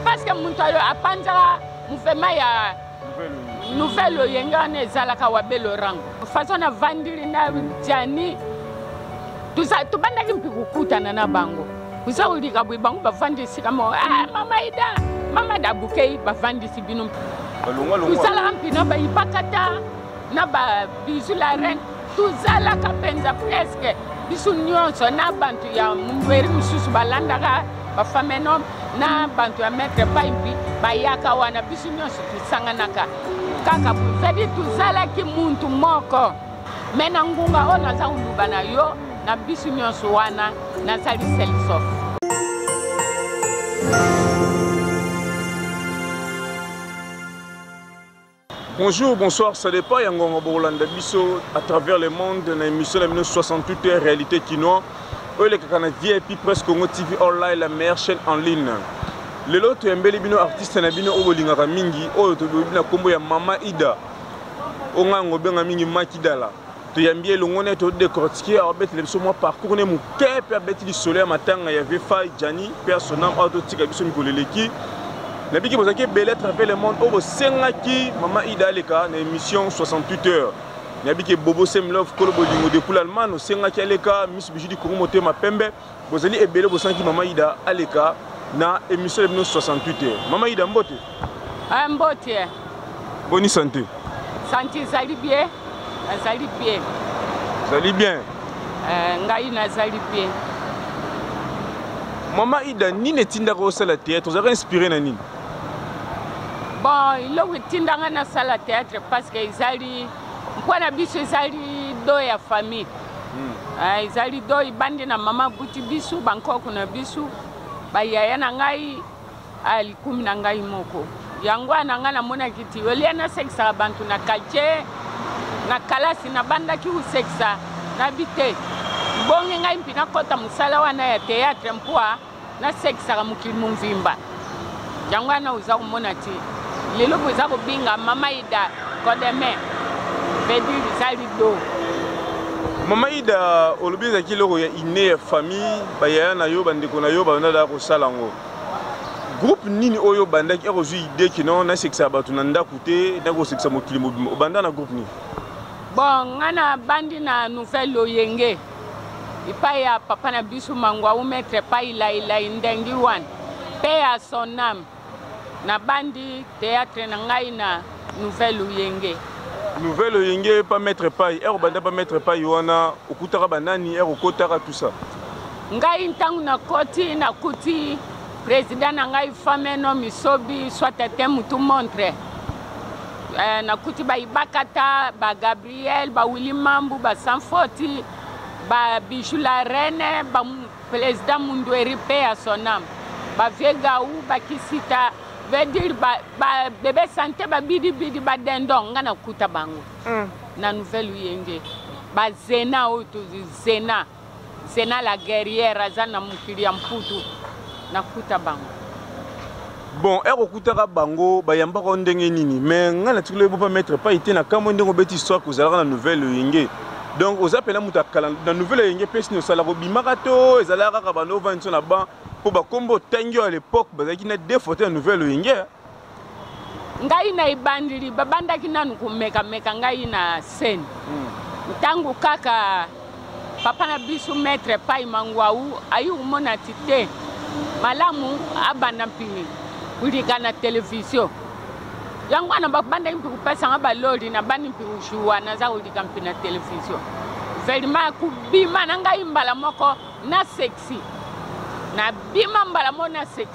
paske moto ayo apanzaka muvema ya nouvelle oyenge wana ezalaka wabe lorango façon navandili na jani tobandaki mpe kokutana na bango oza kolika boye bango bavandi esika moko ah, mama ida mama dabukei bavandisi bino tosalaka mpina bayipakata na ba bisu la reine tozalaka mpenza preske biso nyonso na bato ya mberi mosusu balandaka bafamenome na bato ya maître paimpi bayaka wana biso nyonso tosanganaka kaka cestadire tozalaki muntu moko me na ngunga oyo naza koluba na yo na biso nyonso wana nazali selsof Bonjour, bonsoir, ça dépend ya ngongo bokolanda biso à travers le monde na émission na bino 68 heures réalité kinois oyo elekaka na vip presse congo tv online la meilleure chaîne en ligne lelo toyambeli bino artiste na bino oyo bolingaka mingi oyo tobebi na nkombo ya mama ida oyo ngai yango obenga mingi makidala toyambi ye elongo naye todecortike abetela biso mwa parcours ne moke mpe abeti lisolo ya matanga ya vfai jani mpe ya sonam awa totika biso mikolo eleki nabiki bozalaki ebele à travers le monde oyo bosengaki mama ida aleka na émission 68 heures nabiki bobo semlove kolo bolingo depuis l'allemagne osengaki aleka miss bijudi kongo motema pembe Bozali ebele bosanki mama Ida aleka na emission de 1968. Mama Ida mbote. Ah mbote. Boni santé. Santé zali bien. Azali bien. Zali bien. Euh, ngai nazali bien. Mama Ida nini etindaka osala théâtre? Ozalaka inspiré na nini? Bon, iloko etindanga nasala théâtre parce que ezali Mpo na biso ezali do ya famille hmm. ah, ezali do ibandi na mama abuti biso bankoko na biso bayaya na ngai ah, likumi na ngai moko yango wana ngai namonaki ti olie nasekisaka bantu na quartier na kalasi nabandaki kosekisa nabi te bongi ngai mpe nakɔta mosala wana ya théâtre mpo nasekisaka mokili monvimba yango wana oza komona te lelo boza kobenga mama ida kodeme bedi eza lido mama ida olobi ezalaki eloko ya ine ya famille bayaya na yo bandeko na yo babanda daka kosala yango groupe nini oyo obandaki akozwi ide kino nasekisa bato na ndako te nakosekisa mokili mobimba obanda na groupe nini bon ngai nabandi na nouvelle oyenge epai ya papa na biso mangwau maître epai lailai ndengi wan pe ya son ame nabandi théâtre na ngai na nouvelle oyenge nouvelle oyenge pa maître epai ere obanda pa maître epai wana okutaka banani ere okotaka tout ça ngai ntango nakoti nakuti président na ngai fameno misobi soit ete mutu montre eh, nakuti bayibakata bagabi Gabriel, ba Willy Mambu, ba Sanfoti, ba Bijou la Reine, ba Président Mundueri, paix à son âme. Ba Vieux Gaou, ba Kisita, veut dire ba, ba Bébé Santé, ba Bidi Bidi, ba Dendon, nga na kuta bango. Mm. Na nouvelle Uyenge. Ba Zena, oyo tozi Zena. Zena la guerrière aza na mokili ya mputu nakuta bango bon ere okutaka bango bayambaka yo ndenge nini mais ngai natikoli oyebi pa maître pai te nakamwe ndenge obeti histoire kozalaka na nouvelle oyenge donc oza mpena moto akala na nouvelle oyenge mpe sini osalaka obimaka to ezalaka kaka bando ovandi so na ban mpo bakombo otangi oyo à l'époque bazalaki na deux foto ya nouvelle oyenge ngai na ebandeli babandaki nanu komekameka ngai na scène hmm. ntango kaka papa na biso maître pai mangwau ayi komona ti te malamu abanda mpimi kulika na televizio yango wana babandaki mpe kopesanga baloli nabandi mpe kojuwa naza kolika mpe na televizio vraimen kobima na ngai mbala moko na sexi nabima mbala moko na sexi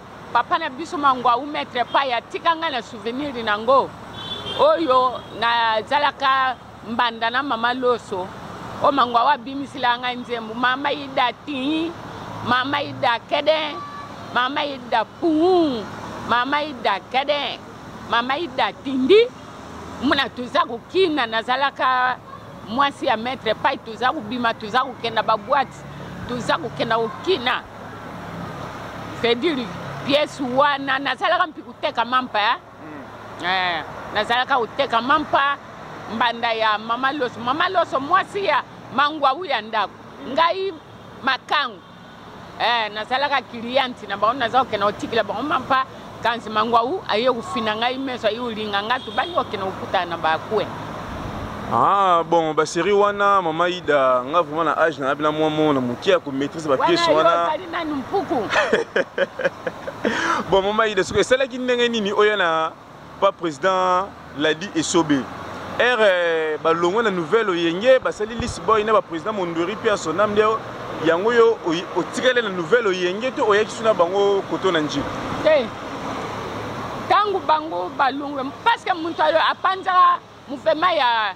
papa na biso mangwawu maître paya atika ngai na souvenir na yango oyo nazalaka mbanda na mama loso oyo mangwawu abimisela ngai nzembo mama ida tii mama ida kede mama ida puu mama ida kede mama ida tindi muna toza kokina nazalaka mwasi ya maître pai toza kobima toza kokenda baboite toza kokenda kokina c'est dire pièce wana nazalaka mpi koteka mampa ya hmm. eh, nazalaka koteka mampa mbanda ya mama loso mama loso mwasi ya mangwawu ya ndako hmm. ngai makango eh, nazalaka cliente na bango naza kokenda kotikela bango mampa kanzi mangwawu aye kofina ngai meso aye kolinga ngai tobaki kokende kokutana na bakue Ah, bon baserie wana mama ida nga vraiment na age na yabi na mwa mona moke ya komaîtrise bapiese wana bon mama ida soki esalaki ndenge nini oya na pa president ladi esobe ere euh, balongwe na nouvelle oyenge basali lisi boy na bapresident mondweri mpe asonam nde yango yo otikali na nouvelle oyenge to oyaki suna bango koto na njili te ntango bango balongwe parceke moto apanzaka mopema ya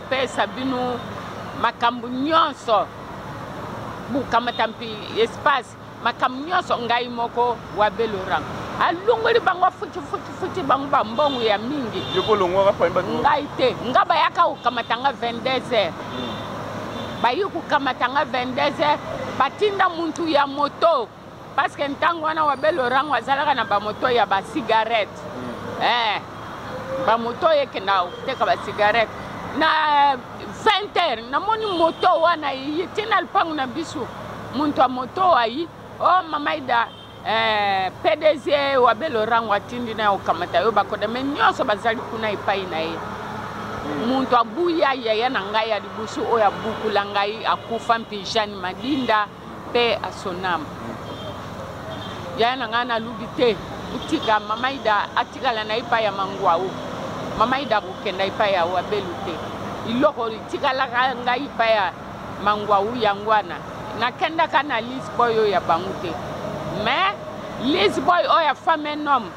pesa bino makambo nyonso bokamata mpi espace makambo nyonso ngai moko wa belorang alongoli bango afutifuti bango bambongo ya mingi ngai te nga bayaka kokamata nga 22 heures hmm. bayi kokamata nga 22 heures batinda muntu ya moto parce que ntango wana wabe lorango azalaka na bamoto ya basigarete mm. eh, bamoto oyo ekenda koteka basigarete na 20 heure namoni moto wana eye ti na lupango na biso moto ya moto ayi o oh, mamaida eh, pdg wabe lorango atindi na okamata yo bakoda me nyonso bazali kuna epai na ye moto mm. abuya yaya na ngai ya liboso oyo abukula ngai akufa mpe jeanne madinda Paix à son âme. Yaya na ngai nalubi te botika mama Ida atikala na epai ya mangwao. Mama Ida akokenda epai ya wabelu te. Iloko itikalaka ngai epai ya mangwao yango wana nakendaka na Liz Boy oyo ya bango te. Mais Liz Boy oyo ya femme un homme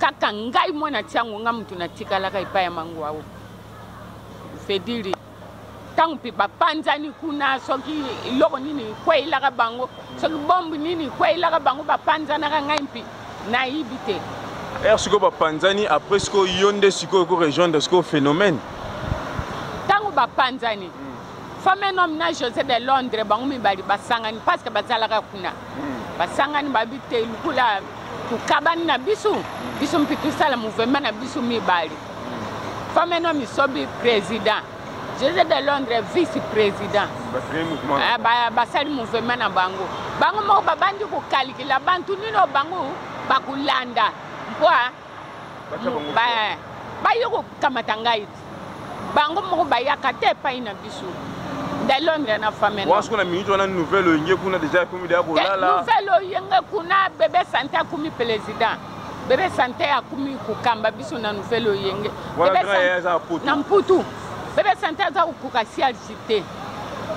kaka ngai mwana tiango ngai moto natikalaka epai ya mangwao fediri ntango mpe bapanzani kuna soki eloko nini ekweyelaka bango soki bombe nini ekweyelaka bango bapanzanaka ngai mpe nayibi te r sikoyo bapanzani après sikoyo yo nde sikoyo ko rejoindre sikoyo phénomène ntango bapanzani hmm. femme un homme na josé de londres bango mibali basangani parce que bazalaka kuna basangani babi te lokola tokabani na biso biso mpe tosala mouvema na biso mibale femme no misobi président jose de londres vice président ah, basali mouvema na bango bango moko babandi kokalikila bantu nino bango bakolanda mpo baye kokamata ngai ti bango moko bayaka te epai na biso de londres na famewasoki na minute wana nouvelle oyenge kuna deja ekomi deya kolala nouvelle oyenge kuna bebe sante akomi président bebe sante akomi kokamba biso na nouvelle oyenge na mputu bebe sante aza kokoka sialsi te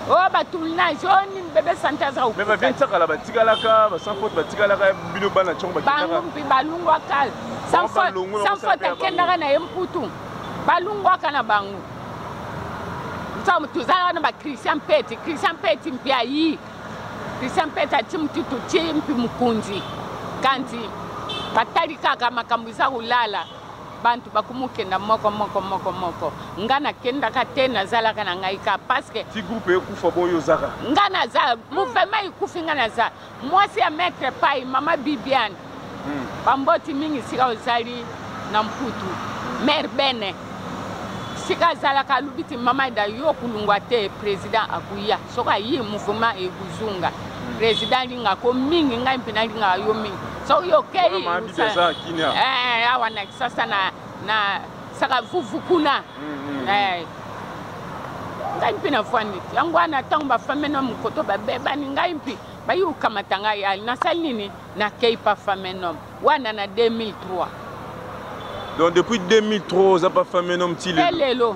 o oh, ba tournage o oh, nini bebe sante aza mais ba viens sakala ba tikalaka ba sans faute ba tikalaka bino bana chongo ba tikalaka bango mpi balungwa kala sans faute sans faute akendaka na ye mputu balungwaka na bango somo tozalaka na ba christian pete christian pete mpi ayi christian pete ati motutu ti mpi mokonzi kanti batali kaka makambo eza kolala bantu bakumukenda moko moko moko moko nga nakendaka te nazalaka na ngai ka parceke ti groupe ekufa boyo ozaka nga naza mouvema ekufi nga naza mwasi ya maitre pai mama bibiane hmm. bamboti mingi sika ozali na mputu hmm. mare bene sika azalaka alobi ti mama da yo kulungwa te président akuya soki ayi mouvema ekozunga hmm. président alingako mingi ngai mpe nalingaka yo mingi soki okei eh, awa na kisasa na saka vuvu kuna mm, mm. eh. ngai mpe nafandi yango wana ntango bafame na mokoto babebani ngai mpe bayi kokamata ngai ali nasali nini nakei pa fame nom wana na 2003 donc depuis 2003 oza pa fame nom ti lelo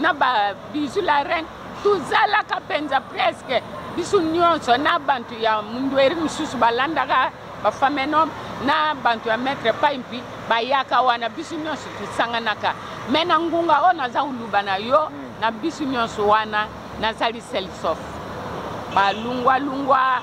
na ba bisu la reine tozalaka mpenza preske biso nyonso na bantu ya mundweri mosusu balandaka bafamenom na bantu ya maître paimpi bayaka wana biso nyonso tosanganaka me na ngunga oyo naza koluba na yo hmm. na biso nyonso wana nazali selsof balungwalungwa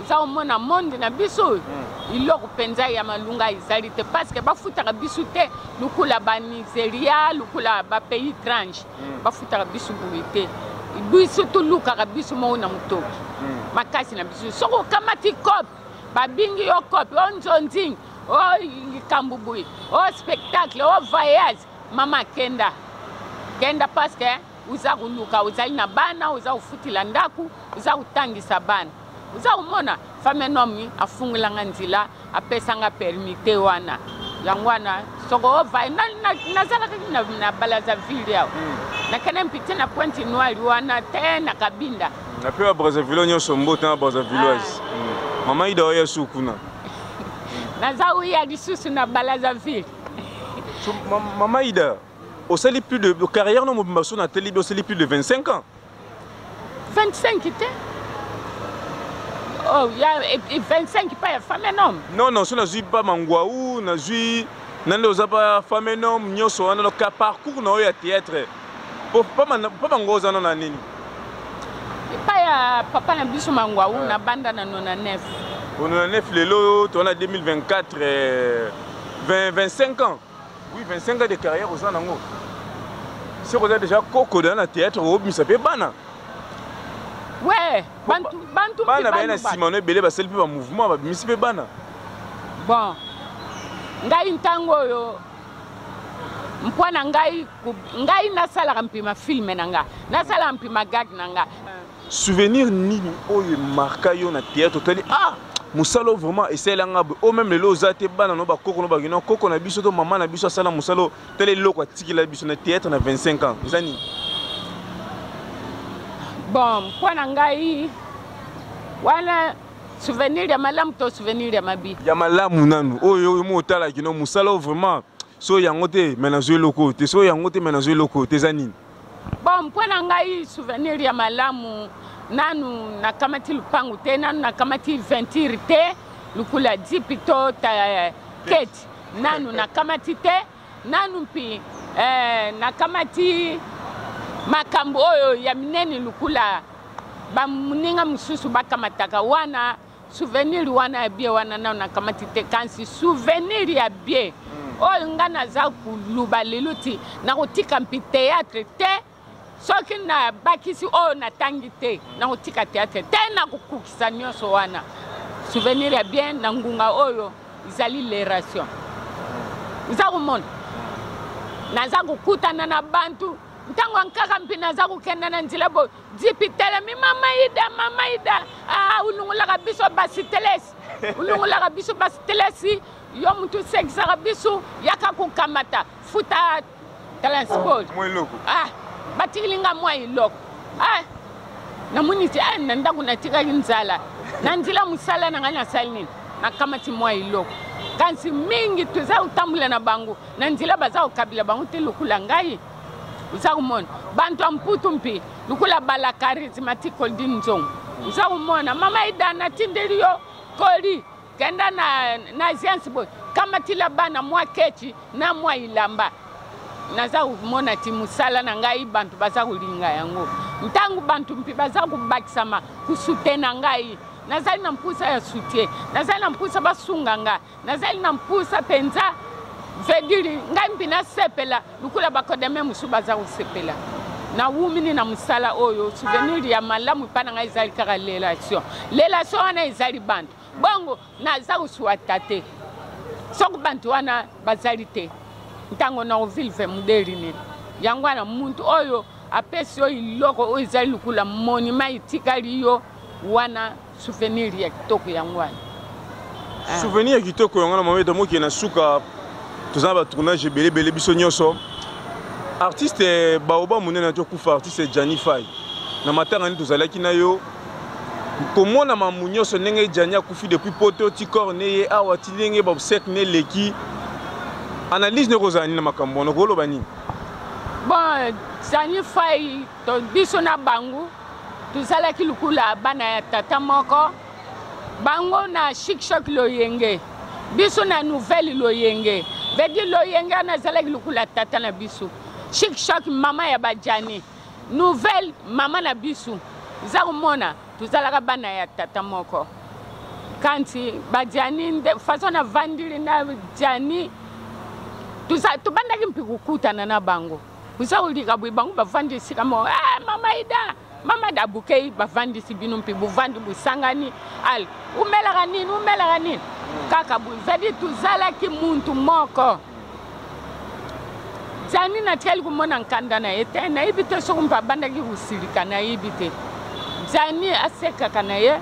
oza omona monde na biso oyo hmm. iloko mpenza ya malunga ezali te parce que bafutaka biso te lokola banigeria lokola bapays étrange hmm. bafutaka biso boye te biso tolukaka biso moko na motoki hmm. makasi na biso soki okamati cope babingi yo cope o nzonzing o likambo boye o spectacle o voyage mama kenda kenda parce que oza koluka ozali na bana oza kofutela ndako oza kotangisa bana oza komona femme un homme afungola nga nzela apesa nga permis te wana yango wana soko ovaye nazalaka na balazaville awa hmm. nakende mpite na pointe noire wana te na kabinda na mpe ba brazzaville nyonso mbota na brazzavilloise ah. hmm. mama ida oya su kuna naza oya lisusu na balazaville mama ida osali plus de carrière no mobimba so na telibi osali plus de 25 ans 25 te oh, ya, 25 pa ya femme nom non non so nazwi pa manguau nazwi nande oza pa femme nom nyonso wana donc parcours na oyo ya théâtre pa manguau oza no na nini epa ya papa na biso manguau ah. nabanda na 99 o 99 lelo toza na 2024 20, 25 ans Oui, 25 ans de carrière oza nango. Soko oza déjà koko dans le théâtre obimisa pe bana. Ouais, bantu bantu bana ba na sima no ebele basali pe ba mouvement babimisi pe bana. Bon. Ngai ntango oyo mpo na ngai ngai nasalaka mpima filme na ngai nasalaka mpima gag na ngai Souvenir nini oyo marka yo na théâtre otali ah mosala oyo vraiment esalela nga boye o oh, meme lelo oza te bana no bakoko no bakino koko na biso to mama na biso asala mosala oyo tala eloko atikela biso na théâtre na 25 ans eza nini bon mpo na ngai wana souvenir ya malamu to souvenir ya mabe ya malamu nanu oyo oyo mo otala kino mosala oyo vraiment so yango te me nazwi eloko te so yango te me nazwi eloko te eza nini bon mpo na ngai souvenir ya malamu nanu nakamati lupangu te nanu nakamati venture te lukula jipi to eh, keti nanu nakamati te nanu mpi eh, nakamati makambo oyo ya minene lukula bamoninga mosusu bakamataka wana souvenir wana ya bie wana nao nakamati te kasi souvenir ya bie hmm. oyo ngai naza koluba lelo ti nakotika mpi théâtre te soki nabakisi oyo natangi te hmm. nakotika théâtre te nakokokisa nyonso wana souvenir ya bie na ngunga oyo ezali leration hmm. eza komona naza kokutana na bantu ntango ankaka mpi naza kokenda na nzela boye Jipi telemi mama ida mama ida ah unungulaka biso basi telesi unungulaka biso basi telesi yo mutu usekisaka biso yaka kokamata futa transport mwa eloko ah batikili nga mwa eloko ah namoni ti ah na ndako natikaki nzala na nzela mosala na ngai nasali nini nakamati mwa eloko kasi mingi toza kotambola na bango na nzela baza kokabila bango te lokola ngai uza kumona bantu ya mputu mpe lokola bala charismatique koldi nzongo uza kumona mama ida natindeli yo koli kenda na, na agence boye kamatila bana mwa kechi na mwa ilamba naza komona ti mosala na ngai bantu baza kolinga yango ntango bantu mpe baza kobakisama kusute na ngai nazali na mposa ya sutie nazali na mposa basunga ngai nazali na mpusa mpenza vediri ngai mpe nasepela lokola bakodeme mosusu baza kosepela nawumini na mosala oyo souvenir ya malamu epai na ngai ezali kaka relation relation wana ezali bantu bongo naza kosuata te soki bantu wana bazali te ntango na kovilve modeli nini yango wana muntu oyo apesi yo eloko oyo ezali lokola monima etikali yo wana Souvenir ya kitoko yango wana. Ah. Souvenir ya kitoko yango wana mama etamoki na suka toza na ba tournage ebele ebele biso nyonso. Artiste eh, baoba monene na tokufa artiste Gianni Fay. Na matanga nini tozalaki na yo komona mamu nyonso ndenge Gianni akufi depuis poto ti corps ne ye awa ti ndenge ba obsèque ne leki analyse ne kozala nini na makambo wana okoloba nini? Bon, Gianni Fay To biso na bango tozalaki lokola bana ya tata moko bango na shikshok loyenge biso na nouvelle loyenge vedi loyenge wana azalaki lokola tata na biso shikshok mama ya bajani nouvelle mama na biso eza komona tozalaka bana ya tata moko kanti bajani nde façon navandili na jani tobandaki mpe kokutana na bango oza kolika boye bango bavandi esika moko ah, mama ida mama da bokei bavandisi bino mpe bovandi bosangani al umelaka nini umelaka nini kaka boye zadi tozalaki muntu moko jani natikali komona nkanda na ye te nayebi te soki mpe abandaki kosilika nayebi te jani asekaka na ye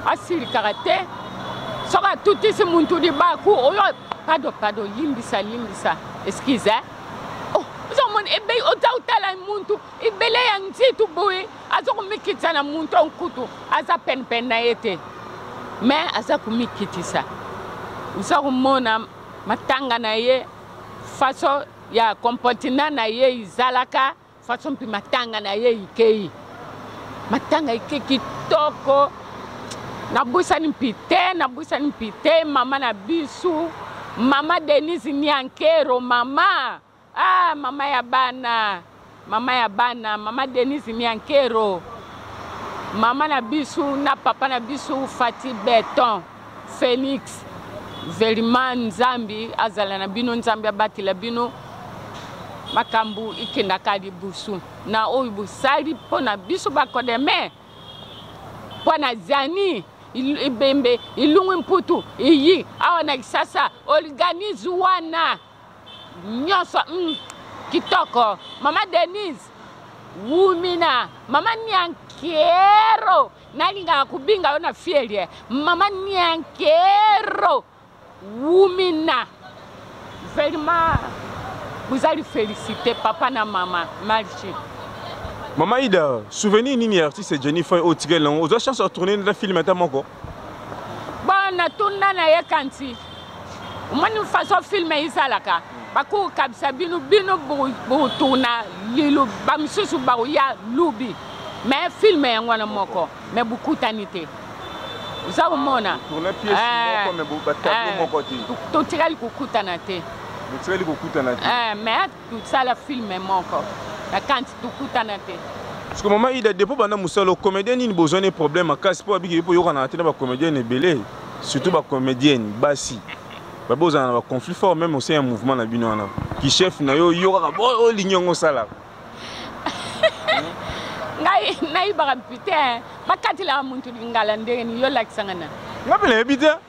asilikaka te soki atutisi muntu libaku oyo pado pado limbisa limbisa eskize eh? ozomona ebe oza otala muntu ebele ya nzitu boye aza komikitisa na muntu ya nkutu aza penepene na ye te me aza komikitisa oza komona matanga na ye faso ya comportement na ye ezalaka façon mpe matanga na ye ikei matanga ike kitoko nabwisani mpi te nabwisani mpi te mama na bisu mama denise niankero mama ah mama ya bana mama ya bana mama denise niankero mama na bisu na papa na bisu fati beton Felix Veliman Nzambi azala na bino Nzambi abatela bino makambo ikendaka liboso na oyo bosali mpo na biso bakodeme mpo na zani ibembe ilungu mputu iyi awa na kisasa organise wana nyonso mm, kitoko mama denise wumina mama niankero nalingaka kobinga yo na fielie mama niankero wumina vraiment vous allez féliciter papa na mama marche mama ida souvenir nini ya artiste jenny foy oyo tikeli nango ozwa chance ya tourne na film ata moko bon natuna na ye kanti omoni façon film esalaka bakokabisa bino bino botuna lilu bamosusu bakoya lubi mais film yango wana moko mais bokutani te oza komona totikali kokutana te mais tosala filme moko na kanti tokutana te parce que mama ida depo banda mosala comédien nini bozwa ne problème makasi mpo abiki mpo oyokanaka te na bacomédienne ebele surtout bacomédienne basi babe ozala na baconflit fort même osin ya mouvement na bino wana kichef na yo yo kaka olingi yango osalaka ngai nayibaka mpi te bakatelaka muntu lingala ndenge nini yo olakisanga na nga mpe nayebi te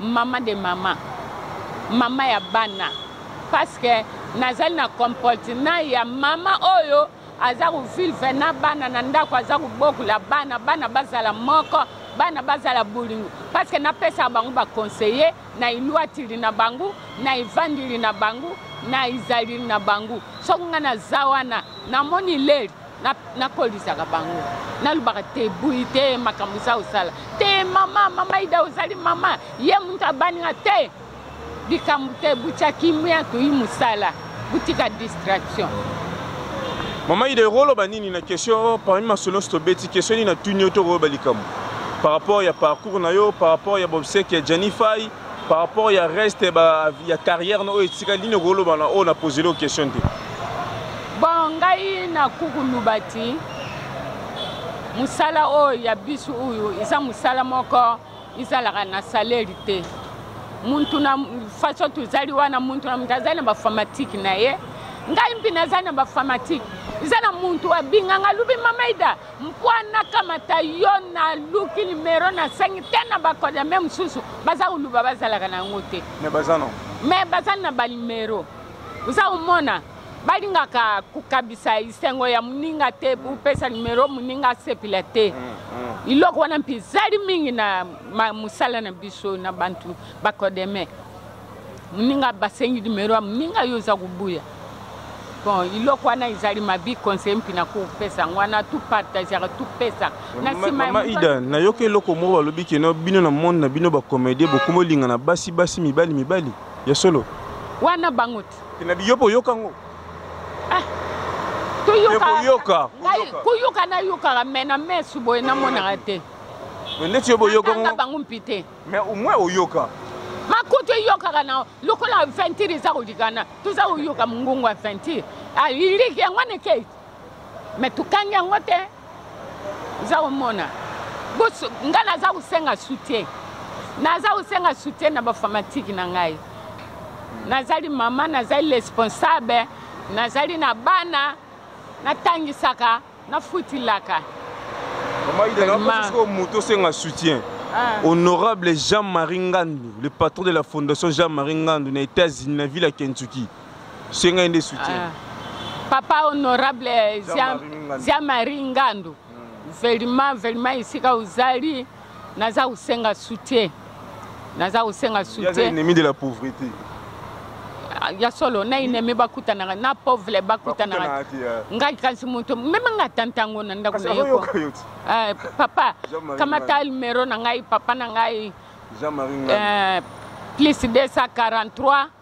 Maman de maman, maman ya bana, parce que nazali na comportement ya maman oyo aza kovivre na bana na ndako, aza kobokola bana, bana bazala moko, bana bazala bolingo, parce que napesaka bango baconseiller na elwatili na bango, na evandeli na bango, na ezaleli na bango. Soki ngai naza wana namoni leli nakolisaka na bango nalobaka te buyi te makambo eza osala te mama mama ida ozali mama ye moto abaninga te likambo te butya kimia toyi mosala botika distraction mama ida ekoloba nini na question parmi masolo nyonso tobeti question nini natuni yo tokoyeba likambo par rapport ya parcours na yo par rapport ya bobseke ya janifai par rapport ya reste ba ya carrière na oyo etika nini okoloba na oyo na posele yo question te bon ngai na kuku lubati mosala oyo ya biso oyo eza mosala moko ezalaka na saleri te muntu na façon tozali wana muntu na muntu azali na bafamatike na ye ngai mpe nazali na bafamatike eza na muntu abinganga lubi mamaida mpo nakamata yo naluki nimero nasengi te na bakodame mosusu baza koluba bazalaka na yango te me baza no me baza na banimero oza komona balingaka kokabisa esengo ya moninga te opesa nimero moninga asepela te mm, mm. iloko wana mpe ezali mingi na mosala na biso na bantu bakodeme muninga basengi numero ya muninga yo oza kobuya bon iloko wana ezali mabi conseil mpi na kopesa yango wana tu partagaka tu pesa na nsima mama ida nayoki eloko moko balobi keno bino na monde na bino bacomédien bokomi olingana basi basi mibali mibali ya solo wana bango te na biyopo oyoka yango ah, koyoka nayokaka me na mesu boye namonaka te neti yo boyoka bango mpi te mais au moins oyoka makutu eyokaka na lokola aventure eza kolikana toza koyoka mongongo aventure aliliki yango nekei me tokangi yango te oza komona ngai naza kosenga soutien naza kosenga soutien na bafamatike na ngai nazali mama nazali responsable nazali na bana natangisaka Na futi laka. Maman Ida, na pas ko moto senga soutien. Ah. Honorable Jean-Marie Ngandu, le patron de la fondation Jean-Marie Ngandu na États-Unis, na ville ya Kentucky. Senga ende soutien. Ah. Papa honorable Jean-Marie Ngandu. Vraiment, vraiment, ici, quand vous allez, Naza kosenga soutien. Naza kosenga soutien. Naza ennemi de la pauvreté. Ah, ya solo na ennemi bakutanaka na pauvre bakutanaka ngai kasi moto meme nga ata ntango na ndako na ye ko eh, papa kamata numero na ngai papa na ngai eh, plus 243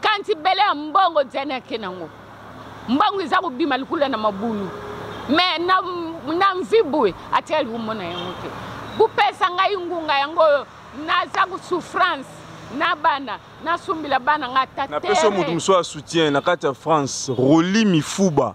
kanti bele ya mbongo diane ake nango mbongo eza kobima likula na mabulu me na, na mvi boye atika likumbo na yango te bopesa ngai ngunga yango oyo naza kosouffrance na bana nasumbila bana ngai ata napesi yo moto mosusu ya soutien na kati ya france roli mifuba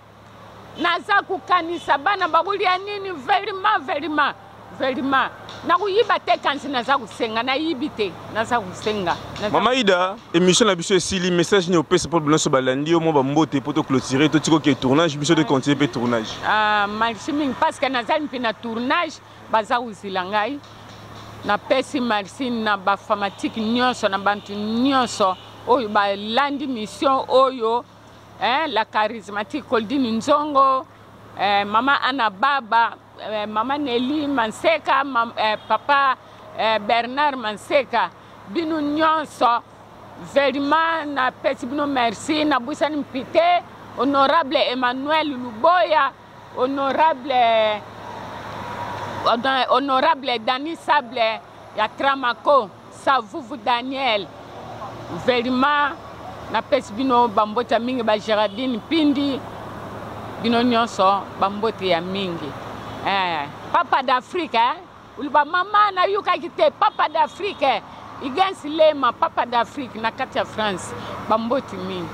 naza kokanisa bana bakolia nini velima velima velima nakoyiba te kanzi naza kosenga nayibi te naza kosenga mama ida émission na biso esili message nini opesa mpo binoso balandi yo mwa bambote mpo toclotire totikoke tournage biso tocontinue mpe tournage ah, merci mingi parce que nazali mpe na tournage baza kozila ngai napesi merci na bafanatike nyonso na bantu nyonso oyo balandi mission oyo eh, la charismatique Coldine Nzongo, eh, Maman Anna Baba, eh, Maman Nelly Manseka, mam, eh, Papa eh, Bernard Manseka, bino nyonso vraiment napesi bino merci nabwisani mpite honorable Emmanuel Luboya, honorable eh, honorable Dani Sable ya Tramako. Savuvu Daniel, Velima, napesi bino bambote ya mingi, ba Gerardine Mpindi, bino nyonso bambote ya mingi. Eh, papa d'Afrique, eh? oloba mama nayokaki te, papa d'Afrique, eh? Igens Lema, papa d'Afrique na kati ya France, bambote mingi.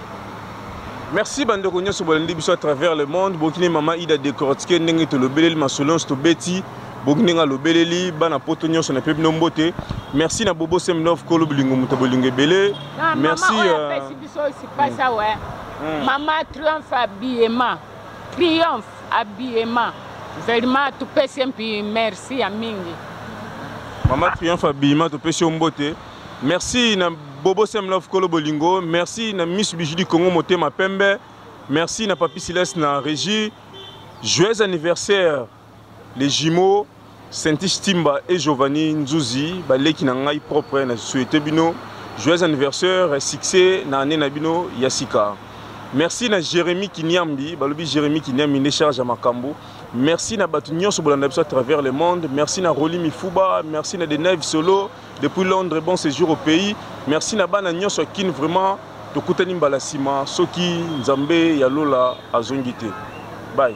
merci bandeko nyonso bolandi biso à travers le monde bokini mama ida decortique ndenge tolobeleli masolo nyonso tobeti boki ndenge alobeleli bana poto nyonso na mpe bino mbote merci na bobo semnov kolo bolingo moto bolingo ebele merci euh, hmm. mama triomphe abiyema triomphe abiyema vraiment topesi ye mpi merci ya mingi mama triomphe abiyema topesi yo mbote merci na bobo semlove kolo bolingo merci na miss biju du congo motema pembe merci na papi silas na régie joyeux anniversaire Les jumeaux Saintish Timba et Giovanni Nzuzi baleki na ngai propre na souhaite bino joyeux anniversaire succès na année na bino ya sika. Merci na Jérémy Kinyambi balobi Jérémy Kinyambi nde charge ya makambo. Merci na bato nyonso bolanda biso à travers le monde. Merci na Rolly Mifuba, merci na Deneve Solo. depuis Londres bon séjour au pays merci na bana nyonso ya kin vraiment tokutani mbala nsima soki nzambe ya lola azongi te bai